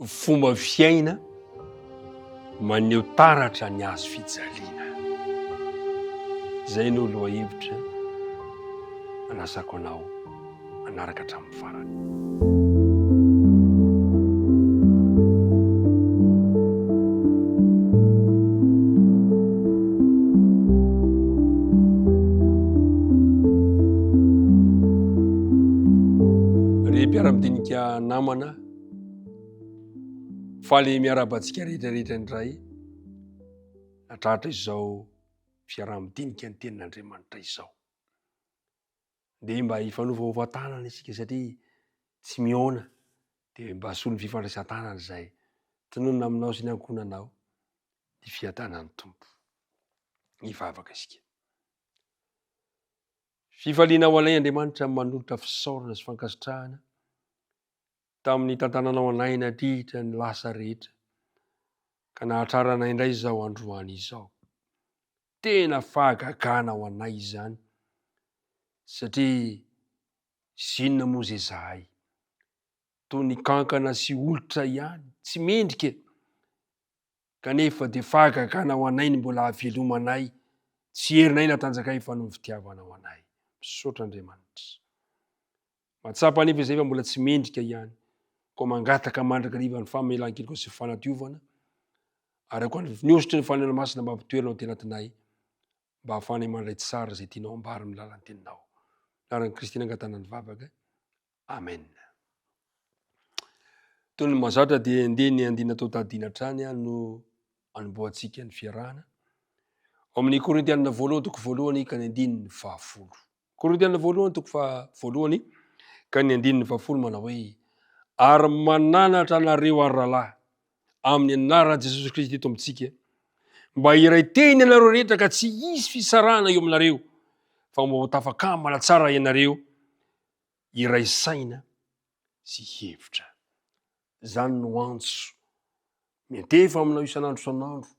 Fomba fiaina maneho taratra ny hazo fijaliana. Izay no lohahevitra anasako anao hanaraka hatramin'ny farany. Ry mpiara-madinika namana. Faly miarahaba antsika rehetrarehetra indray natratra izao fiaraha-midinika ny tenin'Andriamanitra izao. Dia mba hifanovaova tanana isika satria tsy mihaona dia mba asolo ny fifandraisan-tanana izay tononina aminao sy ny ankohonanao ny fiadanan'ny Tompo. Ny vavaka isika. Fifaliana ho alay Andriamanitra manolotra fisaorana sy fankasitrahana tamin'ny nitantananao anay nandritra ny lasa rehetra, ka nahatratra anay indray izao androany izao. Tena fahagagana ho anay izany, satria izy inona moa izay izahay? Toy ny kankana sy olitra ihany, tsy mendrika e! Kanefa dia fahagagana ho anay ny mbola havelomanay, tsy herinay na tanjakay fa noho ny fitiavanao anay. Misaotra Andriamanitra. Mahatsapa anefa izay fa mbola tsy mendrika ihany, koa mangataka mandrakariva ny famelan-keloka sy fanadiovana, ary ankoatra ny hosotry ny fanahy masina mba hampitoerana ao an-tenantinay, mba hahafahanay mandray tsara izay tianao hambara amin'ny lalan'ny teninao. Naran'i Kristy nangatahana ny vavaka. Amen. Toy ny mazatra dia ndeha ny andiana atao tadina hatrany no anombohantsika ny fiarahana. Ao amin'ny Korintianina voalohany toko voalohany ka ny andininy fahafolo. Korintiana voalohany toko faha voalohany ka ny andininy fahafolo manao hoe ary mananatra anareo ary rahalahy amin'ny anaran'i Jesosy Kristy Tompontsika mba hiray teny ianareo rehetra ka tsy hisy fisarahana eo aminareo fa mba ho tafakamana tsara ianareo iray saina sy hevitra. Izany no antso miantefa aminao isan'andro isan'andro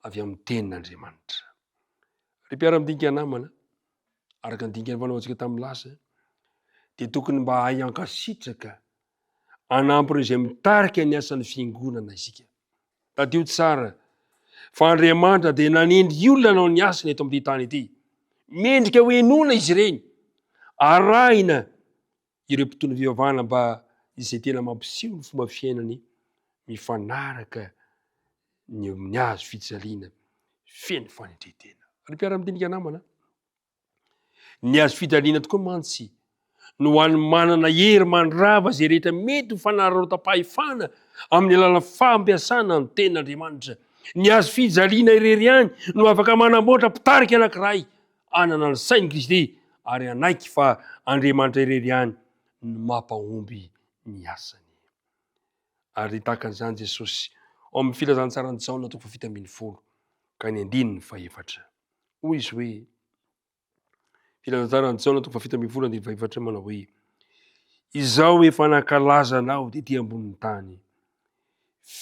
avy amin'ny tenin'Andriamanitra. Ry mpiara-midinika namana, araka ny dingana fanaontsika tamin'ny lasa, dia tokony mba hahay ankasitraka anampy ireo izay mitarika ny asan'ny fiangonana isika. Tadidio tsara fa Andriamanitra dia nanendry olona nanao ny asany eto amin'ity tany ity. Mendrika ho henoina izy ireny, arahina Ireo mpitondra fivavahana mba izay tena mampiseho ny fomba fiainany mifanaraka ny amin'ny hazo fijaliana feno fanetren-tena. Ry mpiara-midinika namana, ny hazo fijaliana tokoa mantsy no ho an'ny manana hery mandrava izay rehetra mety ho fanararaotam-pahefana amin'ny alalan'ny fampiasana ny tenin'Andriamanitra. Ny hazo fijaliana irery ihany no afaka manamboatra mpitarika anankiray. Hanana ny sain'i Kristy ary hanaiky fa Andriamanitra irery ihany no mampahomby ny asany. Ary tahaka an'izany Jesosy ao amin'ny filazantsaran'i Jaona toko fahafito ambin'ny folo ka ny andininy fahefatra. Hoy izy hoe, filazantsaran'i Jaona toko fahafito ambin'ny folo andininy fahefatra manao hoe, Izao efa nankalaza anao tety ambonin'ny tany.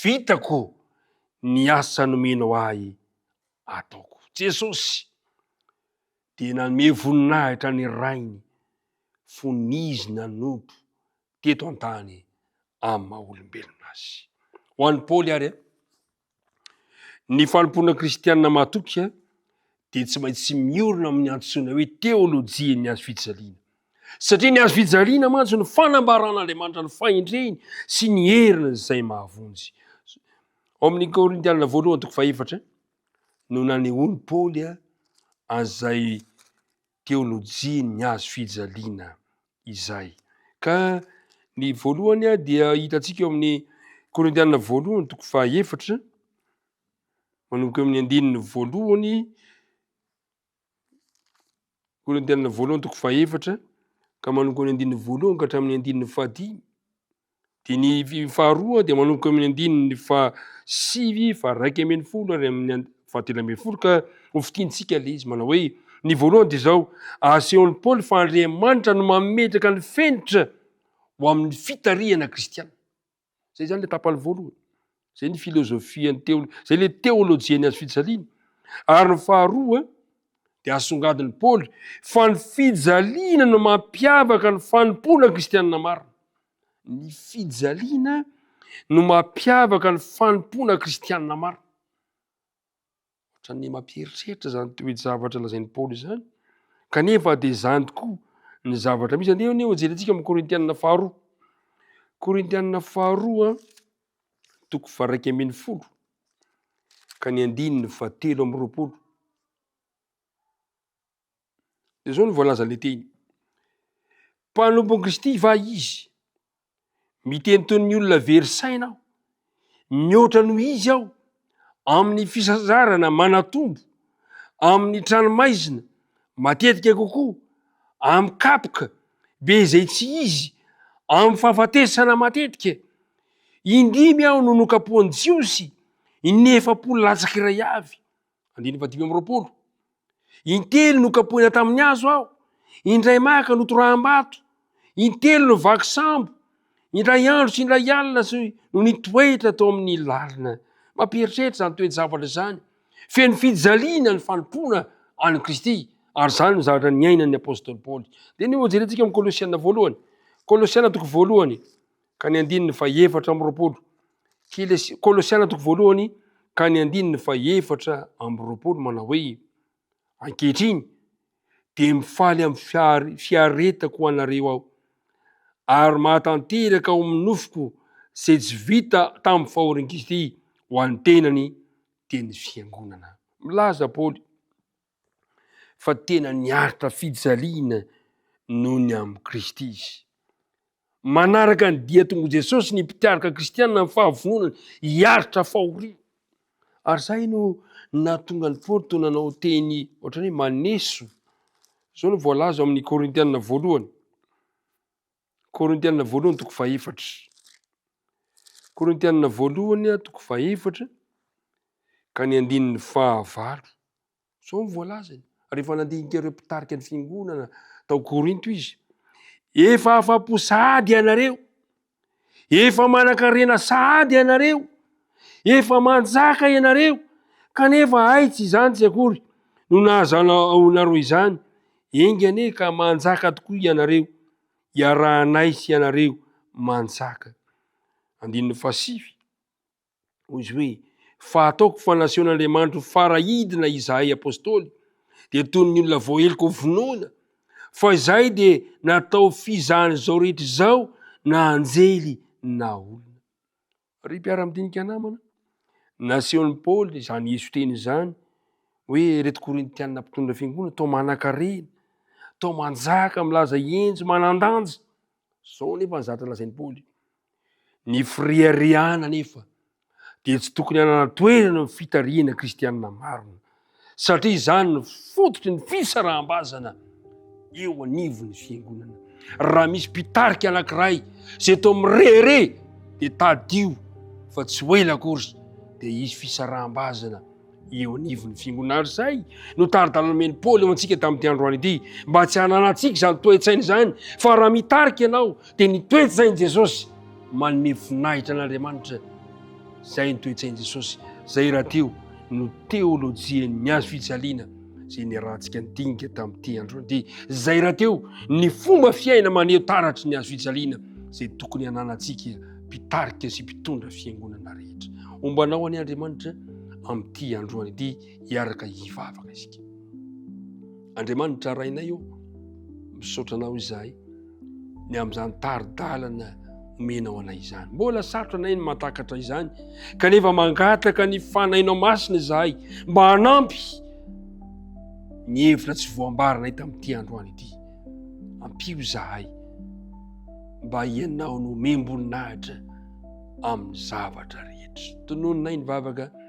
Vitako ny asa nomenao ahy ataoko. Jesosy dia nanome voninahitra ny Rainy fony Izy nanompo teto an-tany amin'ny maha olombelona Azy. Ho an'i Paoly ary, ny fanompoana kristianina matoky dia tsy maintsy miorina amin'ny antsoina hoe teolojian'ny Hazo fijaliana. Satria ny Hazo fijaliana mantsy no fanambaran'Andriamanitra ny fahendreny sy ny heriny izay mahavonjy. Ao amin'ny Korintianina voalohany toko fahefatra no nanehoan'i Paoly an'izay teolojian'ny hazo fijaliana izay. Ka ny voalohany dia hitantsika eo amin'ny Korintianina voalohany toko fahefatra manomboka eo amin'ny andininy voalohany Korintianina voalohany toko fahefatra ka manomboka amin'ny andininy voalohany ka hatramin'ny andininy fahadimy. Dia ny faharoa dia manomboka amin'ny andininy fahasivy faharaika ambin'ny folo ary amin'ny fahatelo ambin'ny folo ka hofitintsika ilay izy manao hoe ny voalohany dia izao asehon'i Paoly fa Andriamanitra no mametraka ny fenitra ho amin'ny fitarihana kristianina. Izay izany ilay tapany voalohany. Izay ny filozofian'ny teolo, izay ilay teolojian'ny azo fijaliana. Ary ny faharoa dia asongadin'i Paoly fa ny fijaliana no mampiavaka ny fanompoana kristianina marina. Ny fijaliana no mampiavaka ny fanompoana kristianina marina. Ohatran'ny mampieritreritra izany toe-javatra lazain'i Paoly izany. Kanefa dia izany tokoa ny zavatra misy. Andeha anie hojerentsika amin'ny Korintianina faharoa. Korintianina faharoa toko faraika ambin'ny folo ka ny andininy fahatelo amby roapolo. dia zao no voalazan'ilay teny, mpanompon'i Kristy va izy? Miteny toy ny olona very saina aho, mihoatra noho izy aho amin'ny fisazarana manatombo, amin'ny tranomaizina matetika kokoa, amin'ny kapoka be izay tsy izy, amin'ny fahafatesana matetika. Indimy aho no nokapohan'ny Jiosy, inefapolo latsaka iray avy. Andininy fahadimy amby roapolo. Intelo nokapohina tamin'ny hazo aho, indray maka notoraham-bato, intelo no vaky sambo, indray andro sy indray alina sy no nitoetra tao amin'ny lalina. Mampieritreritra izany toe-javatra izany. Feno fijaliana ny fanompoana an'i Kristy, ary izany no zavatra niainan'ny apostoly Paoly. Dia ny hojerentsika amin'ny Kolosiana voalohany. Kolosiana toko voalohany. ka ny andininy fahefatra amby roapolo. Kolosiana toko voalohany ka ny andininy fahefatra amby roapolo manao hoe, Ankehitriny dia mifaly amin'ny fiaretako ho anareo aho, ary mahatanteraka ao amin'ny nofoko izay tsy vita tamin'ny fahorian'i Kristy ho an'ny tenany, dia ny fiangonana. Milaza Paoly fa tena niaritra fijaliana noho ny amin'i Kristy izy. Manaraka ny dian-tongo'i Jesosy ny mpikaroka kristianina amin'ny fahavononany hiaritra fahoriana. Ary izay no nahatonga ny Paoly toa nanao teny ohatran'ny hoe maneso. Izao no voalaza ao amin'ny Korintianina voalohany. Korintianina voalohany toko fahefatra. Korintianina voalohany toko fahefatra ka ny andininy fahavalo. Sao ny voalazany. Rehefa nandinika ireo mpitarika ny fiangonana tao Korinto izy. Efa afa-po sahady ianareo. Efa manan-karena sahady ianareo. Efa manjaka ianareo. Kanefa aitsy izany tsy akory no nahazana anareo izany. Enga anie ka manjaka tokoa ianareo, iarahanay sy ianareo manjaka. Andininy fahasivy, hoy izy hoe, Fa ataoko fa nasehon'Andriamanitro fara hidina izahay apostoly, dia toy ny olona voaheloka ho vonoina, fa izahay dia natao fizahan'izao rehetra izao na anjely na olona. Ry mpiara-midinika namana, nasehon'i Paoly izany heso teny izany hoe ireto Korintiana mpitondra fiangonana toa manankarena, toa manjaka, milaza henjy, manan-danja. Izao nefa ny zavatra lazain'i Paoly. Ny fireharehana nefa dia tsy tokony hanana toerana amin'ny fitarihana kristianina marina. satria izany no fototry ny fisaraham-bazana eo anivon'ny fiangonana. Raha misy mpitarika anankiray izay toa mirehareha dia tadidio fa tsy ho ela akory dia hisy fisaraham-bazana eo anivon'ny fiangonana. Ary izay no tari-dalana omen'i Paoly eo antsika tamin'ity androany ity mba tsy hananantsika izany toe-tsaina izany fa raha mitarika ianao Dia ny toe-tsain'i Jesosy, manome voninahitra an'Andriamanitra, izay ny toe-tsain'i Jesosy, izay rahateo no teolojian'ny hazo fijaliana izay niarahantsika nidinika tamin'ity andro ity, izay rahateo ny fomba fiaina maneho taratry ny hazo fijaliana izay tokony hananantsika mpitarika sy mpitondra fiangonana rehetra. Ombanao ani Andriamanitra amin'ity androany ity hiaraka hivavaka isika. Andriamanitra rainay ô, misaotra anao izahay. ny amin'izany tari-dalana omenao anay izany mbola sarotra anay ny matakatra izany kanefa mangataka ny fanahinao masina izahay mba hanampy ny hevitra tsy voambaranay tamin'ity androany ity ampio izahay mba ianao no omem-boninahitra amin'ny zavatra rehetra tonononay ny vavaka